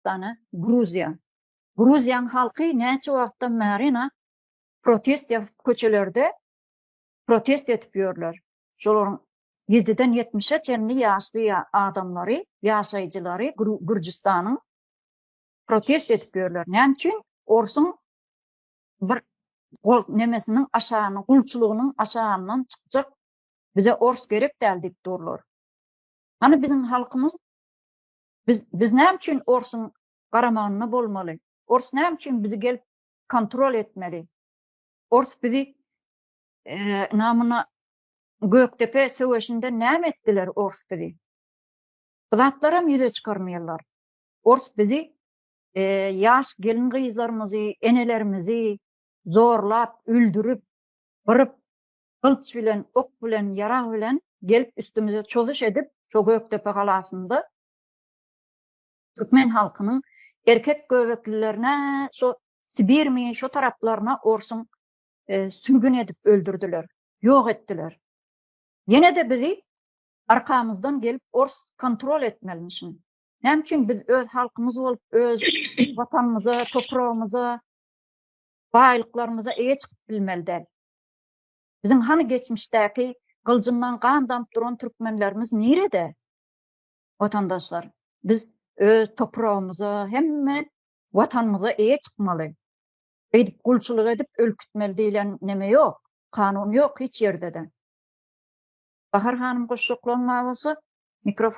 Türkmenistana Gruziýa. Gruziýaň halky näçe wagtdan bärina protest ýazyp köçelerde protest edip ýörler. Şolaryň ýediden ýetmişe çenli ýaşly adamlary, ýaşaýjylary Gürjüstanyň protest edip ýörler. Näme üçin orsuň bir gol nemesiniň aşagyny gulçulygynyň aşagyndan çykjak bize ors gerek däl diýip durlar. Hany biziň halkymyz Biz biz näme üçin orsuň garamagynda bolmaly? Ors näme üçin bizi gelip kontrol etmeli? Ors bizi namuna Gökdepe söweşinde näme etdiler ors bizi? Bu zatlaram ýüze çykarmaýarlar. Ors bizi ýaş gelin gyzlarymyzy, enelerimizi zorlap, öldürip, gyryp, gylyç bilen, ok bilen, ýarag bilen gelip üstümize çozuş edip, şo Gökdepe galasynda türkmen halkynyň erkek göbeklilerine şo Sibirmi şo taraplaryna orsuň sürgün edip öldürdiler, ýok etdiler. Ýene-de bizi arkamyzdan gelip ors kontrol etmelimişin. Näme üçin biz öz halkymyz bolup, öz watanymyza, topragymyza, baýlyklarymyza eýe çykyp bilmeli däl? Biziň hany geçmişdäki gyljyndan gan damyp duran türkmenlerimiz nirede? Watandaşlar, biz öz topragymyza, hemme Watanymyza eýe çykmaly. Beýdip gulçulyk edip ölkütmeli diýlen neme ýok, kanun ýok hiç ýerde-de. Bahar hanym goşjaklaryn bar bolsa, mikrofon.